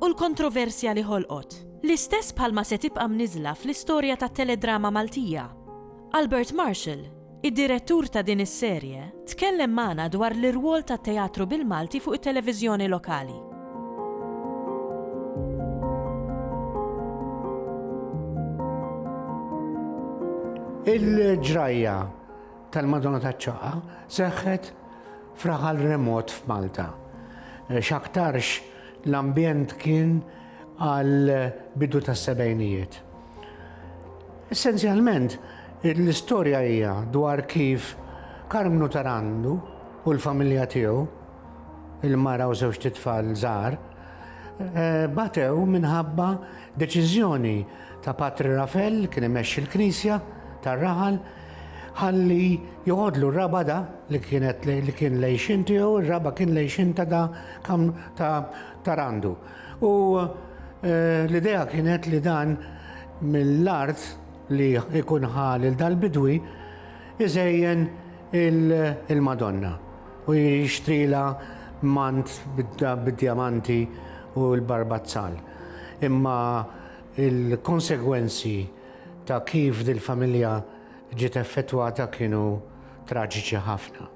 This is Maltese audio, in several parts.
u l-kontroversja li ħolqot, l-istess bħalma se tibqa' mniżżla fl-istorja tat-teledrama Maltija. Albert Marshall, id-direttur ta' din is-serje, tkellem magħna dwar l-irwol tat-teatru bil-Malti fuq it-televiżjoni lokali. Il-ġrajja tal-Madonna taċ-Ċaqqa seħħet f'raħal remot f'Malta. X'aktarx L-ambjent kien għal bidu tas-sebgħinijiet. Essenzjalment, l-istorja hija dwar kif Karmnu Tarandu u l-familja tiegħu, il-mara u żewġt itfal żgħar, batew minħabba deċiżjoni ta' Patri Rafel li kien imexxi l-Knisja tar-raħal ħalli joħodlu r-raba' da li kienet li kien lejxin tiegħu, ir-raba' kien lejxin ta' da kam ta' tarandu. U eh, l-idea kienet li dan mill-art li jkun ħal il dal-bidwi iżejjen il-Madonna u jixtrila mant bid-diamanti u l-barbazzal. Imma Il-konsegwenzi ta' kif dil-familja ġiet effettwata kienu traġiċi ħafna.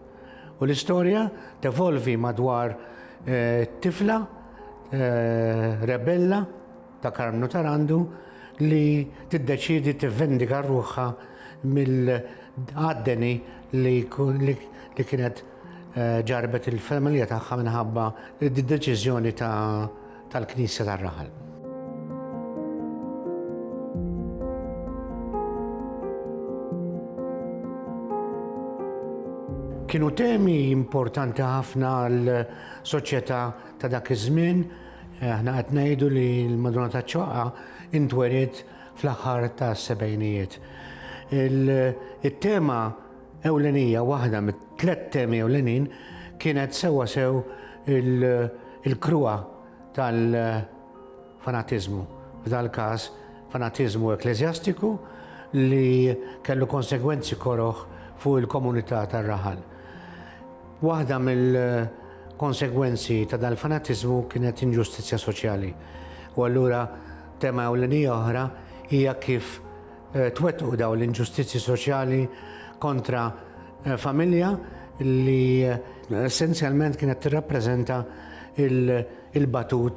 U l-istorja tevolvi madwar tifla rebella ta' Karmnu Tarandu li tiddeċiedi tivvendika ruħha mill-għadeni li kienet ġarrbet il-familja tagħha minħabba d-deċiżjoni ta' tal-Knisja tar-Raħal. Kienu temi importanti ħafna għal soċjetà ta' dak iż-żmien. Aħna qed ngħidu li l-Madonna ta' Ċoqqa intwerid fl-aħħar ta' sebgħinijiet. Il-tema ewlenija, waħda mit-tliet temi ewlenin kienet sewwa sew il-kruha tal-fanatiżmu, f'dal-każ fanatiżmu ekkleżjastiku li kellu konsegwenzi koroh fuq il-komunità tar-raħal. Waħda mill-konsegwenzi ta' dal-fanatiżmu kienet inġustizzja soċjali u allura tema ewlenija oħra hija kif twettqu dawn l-inġustizzji soċjali kontra familja li essenzjalment kienet tirrappreżenta l-batut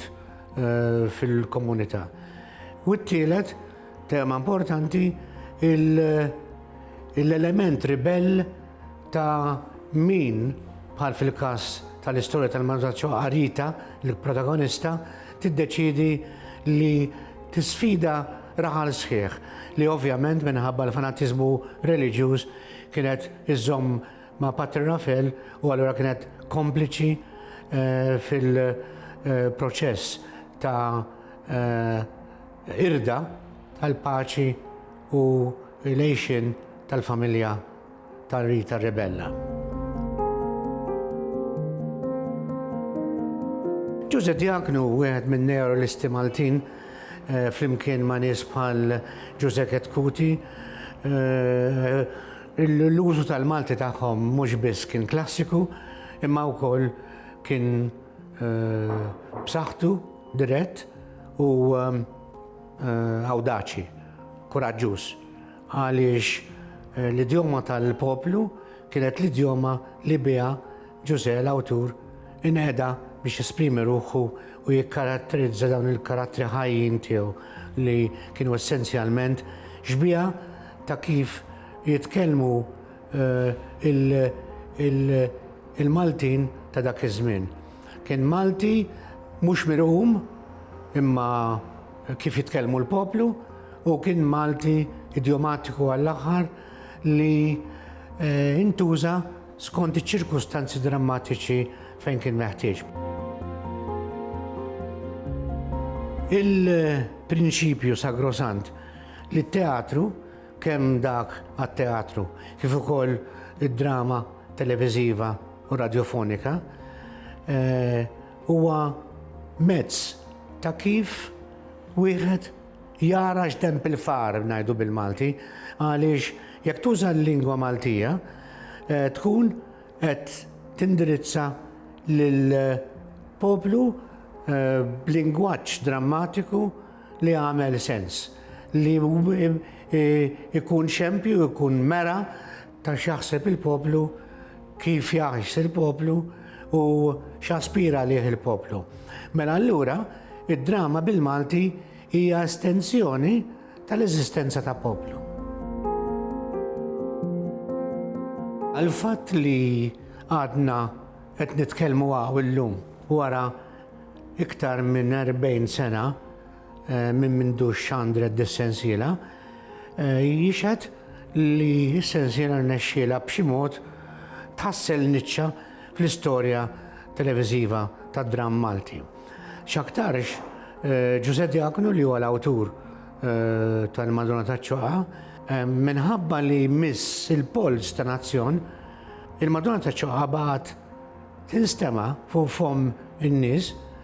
fil-komunità. U t-tielet, tema importanti, l-element ribell ta' min, bħal fil-każ tal-istorja tal-Manuzzaccio Arita, il-protagonista, tiddeċiedi li tisfida Raħal sħiħ, li ovvjament minħabba l-fanatiżmu reliġjuż kienet iżżomm ma' Patri Rafel u allura kienet kompliċi fil-proċess ta' qirda tal-paċi u l-għixien tal-familja ta' Rita Rebella. Ġuże Diaknu, wieħed minn neorelisti Maltin, eh, flimkien ma' nies bħal Ġuże Ketkuti, eh, l-użu tal-Malti tagħhom mhux biss kien klassiku, imma wkoll kien eh, b'saħħtu dirett u awdaċi, kuraġġuż. Għaliex l-idjoma tal-poplu kienet l-idjoma li biha Ġużè l-awtur inqeda biex jesprimi ruħu u jikkaratterizza dawn il-karattri ħajjin tiegħu li kienu essenzjalment xbieha ta' kif jitkellmu l-Maltin ta' dak iż-żmien. Kien Malti mhux mirqum imma kif jitkellmu l-poplu u kien Malti idjomatiku għall-aħħar li eh, intuża skont iċ-ċirkustanzi drammatiċi fejn kien meħtieġ. Il-prinċipju sagrosant li t-teatru kemm dak għat-teatru kif ukoll id-drama televiżiva u radiofonika eh, huwa mezz ta' kif wieħed jara x'denb il-far, ngħidu bil-Malti, għaliex jekk tuża l-lingwa Maltija tkun qed tindirizza lil poplu b'lingwaġġ drammatiku li jagħmel sens, li ikun xempju, ikun mera ta' x'jaħseb il-poplu, kif jgħix il-poplu u x'jaspira għalih il-poplu. Mela allura, id-drama bil-Malti hija estensjoni tal-eżistenza ta' poplu. Għal-fatt li għadna qed nitkellmu għaw illum wara iktar minn 40 sena, eh, minn mindu xandret dis-sensiela, eh, jixed li s-sensiela rnexxiela b'xi mod tħassel niċċa fl-istorja televiżiva tad-dram Malti. X'aktarx eh, Ġużè Diakonu li huwa l-awtur tal-Madonna taċ-Ċoqa minħabba li miss il-polz ta' nazzjon il-Madonna taċ-Ċoqa baqgħet tinstema fuq fom in-nies